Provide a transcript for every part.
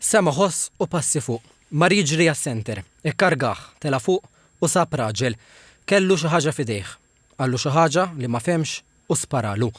Sema' ħoss u passi fuq. Mar jiġri għas-centre. Ikkargah, tela' fuq u sab raġel. Kellu xi ħaġa f'idejh. Qallu xi ħaġa li ma fehmx u sparalu.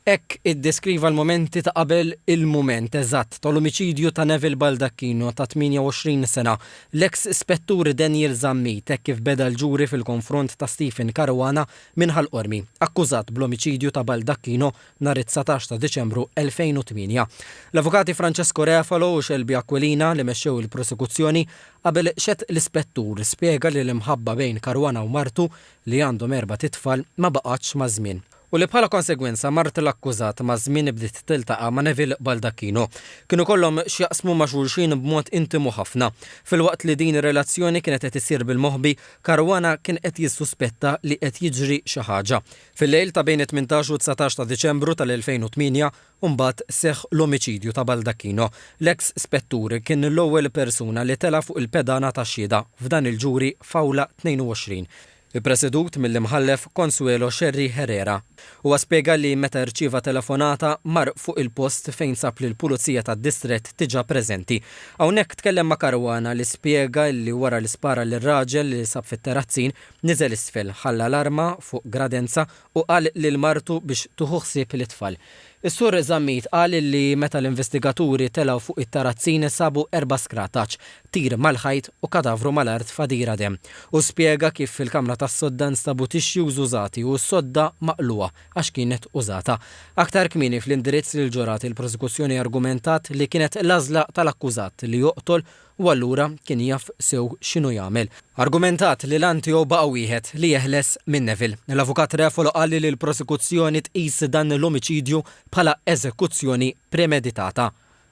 Hekk iddeskriva l-mumenti ta' qabel il-mument eżatt tal-omiċidju ta' Neville Baldacchino ta' 28 sena, l-eks Ispettur Daniel Zammit hekk kif beda l-ġuri fil-konfront ta' Stephen Caruana minn Ħal Qormi, akkużat bl-omiċidju ta' Baldacchino nhar it-dsatax ta' Diċembru 2008. L-avukati Francesco Refalo u Shelby Aquilina li mexxew il-prosekuzzjoni qabel x'għed l-ispettur spjega li l-imħabba bejn Caruana u martu li għandhom erbat itfal ma baqgħetx maż-żmien u li bħala konsegwenza mart l-akkużat maż-żmien bdiet tiltaqa' ma' Neville Baldacchino. Kienu kollhom x'jaqsmu ma' xulxin b'mod intimu ħafna. Filwaqt li din ir-relazzjoni kienet qed issir bil-moħbi, Caruana kien qed jissuspetta li qed jiġri xi ħaġa. Fil-lejl ta' bejn it-tmintax u t-dsatax ta' Diċembru tal-2008 mbagħad seħħ l-omiċidju ta' Baldacchino. L-eks Spettur kien l-ewwel persuna li tela' fuq il-pedana tax-xhieda f'dan il-ġuri f'Awla 22, ippresedut mill-Imħallef Consuelo Scerri Herrera. Huwa spjega li meta rċieva telefonata mar fuq il-post fejn sab lill-Pulizija tad-Distrett diġà preżenti. Hawnhekk tkellem ma' Caruana li spjega li wara li spara lir-raġel li sab fit-terazzin, Niżel isfel, ħalla l-arma fuq gradenza u qal lil martu biex tieħu ħsieb lit-tfal. Is-Sur Zammit qal li meta l-investigaturi telgħu fuq it-tarazzin sabu erba' skrataċ, tir mal-ħajt u kadavru mal-art f'għadira demm. Hu spjega kif fil-kamra tas-sodda nstabu tixjuż użati u s-sodda maqlugħa għax kienet użata. Aktar kmieni fl-indirizz lill-ġurati l-prosekuzzjoni argumentat li kienet l-għażla tal-akkużat li joqtol u allura kien jaf sew x'inhu jagħmel. Argumentat li l-għan tiegħu baqa' wieħed, li jeħles minn Neville. L-Avukat Refalo qal li l-prosekuzzjoni tqis dan l-omiċidju bħala eżekuzzjoni premeditata.